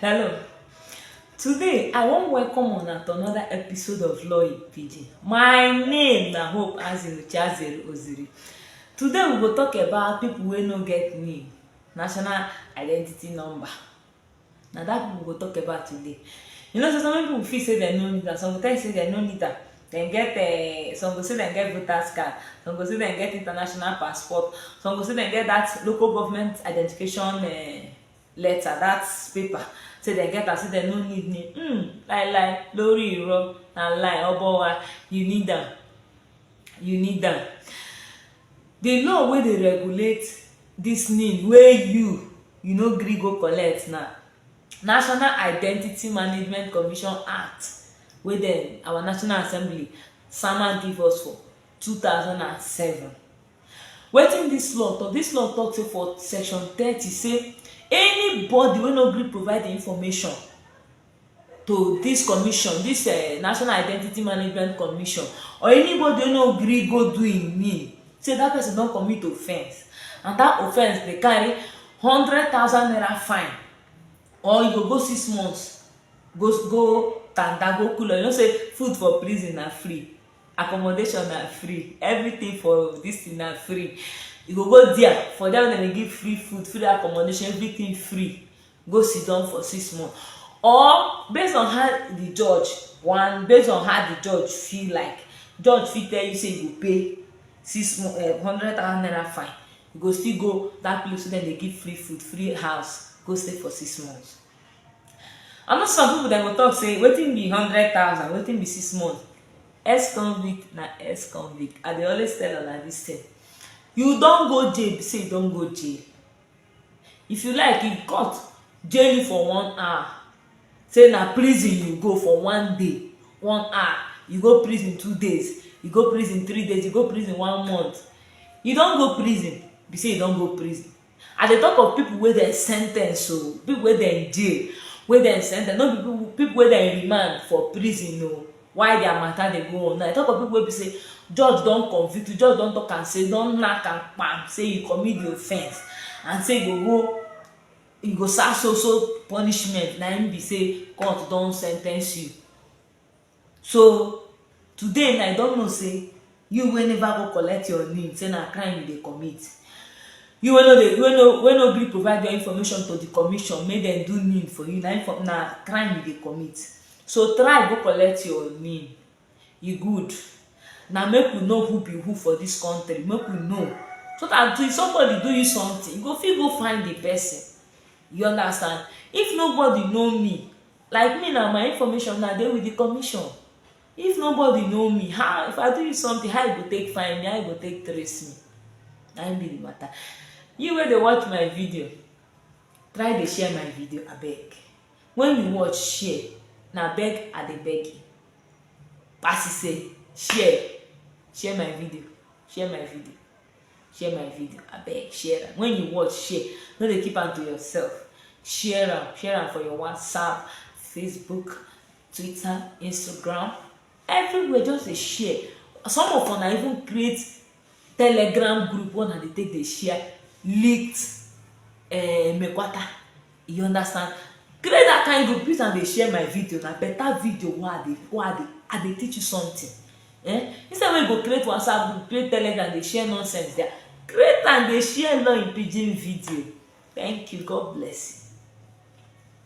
Hello. Today, I wan welcome una to another episode of Law in Pidgin. My name na Hope Azinuchi Azere Oziri. Today, we go talk about people wey no get NIN, National Identity Number. Na that people we go talk about today. You know say some people feel say dem no need am, some go tell you say dem no need am. dem get eh, some go say dem get voters card some go say dem get international passport some go say dem get that local government identification eh, letter that paper say dem get am say dem no need me mm, lie lie lórí irọ́ na lie ọbọ wa you need am you need am the law wey dey regulate this need wey you you no gree go collect na National Identity Management Commission Act wey dem our National Assembly sama give us for two thousand and seven. Wetin dis law talk? Dis law talk say for section thirty say anybody wey no gree provide im information to dis commission, dis um National Identity Management Commission or anybody wey no gree go do im NIN say dat person don commit offence and dat offence dey carry hundred thousand naira fine or you go go six months go go tanda go cool you know say food for prison na free accommodation na free everything for dis thing na free you go go there for there dem dey give free food free accommodation everything free go siddon for six months or based on how the judge wan based on how the judge feel like judge fit tell you say you go pay six mo- eh, hundred thousand naira fine you go still go that place wey dem dey give free food free house go stay for six months i know some people dem go talk say wetin be hundred thousand wetin be six months ex convict na ex convict i dey always tell una this thing you don go jail be say you don go jail If you like, if court jail you for one hour, say na prison you go for one day, one hour, you go prison two days, you go prison three days, you go prison one month, you don go prison, be say you don go prison. I dey talk of people wey dem sentence o, people wey dem jail, wey dem sentence, no be people wey dem remand for prison o. why their matter dey go on now i talk of people wey be say judge don convict you judge don talk am say don knack am kpam say you commit the offence and say you go go you go serve so so punishment na im be say court don sentence you so today na i don know say You wey never go collect your nin say na crime you dey commit. You wey no dey wey no wey no gree provide your information to di commission make dem do nin for you na info na crime you dey commit. So try go collect your nin, e good na make we know who be who for dis country make we know so dat if somebody do you something you go fit go find di person you understand. If nobody know me like me now my information now dey with di commission. If nobody know me, how if I do you something, how you go take find me, how you go take trace me? Na im be the matter. You wey dey watch my video, try dey share my video abeg. When you watch, share. Na beg I dey beg you. Pasi say, share, share my video, share my video, share my video abeg share am. When you watch, share. No dey keep am to yourself. Share am, share am for your WhatsApp, Facebook, twitter instagram everywhere just dey share some of una even create telegram group wey una dey take dey share leaked uh, mekwata you understand create that kind group use am dey share my video na better video wey i dey wey i dey i dey teach you something eh instead wey you go create whatsapp group create telegram dey share nonsense there create am dey share law in pidgin video thank you god bless you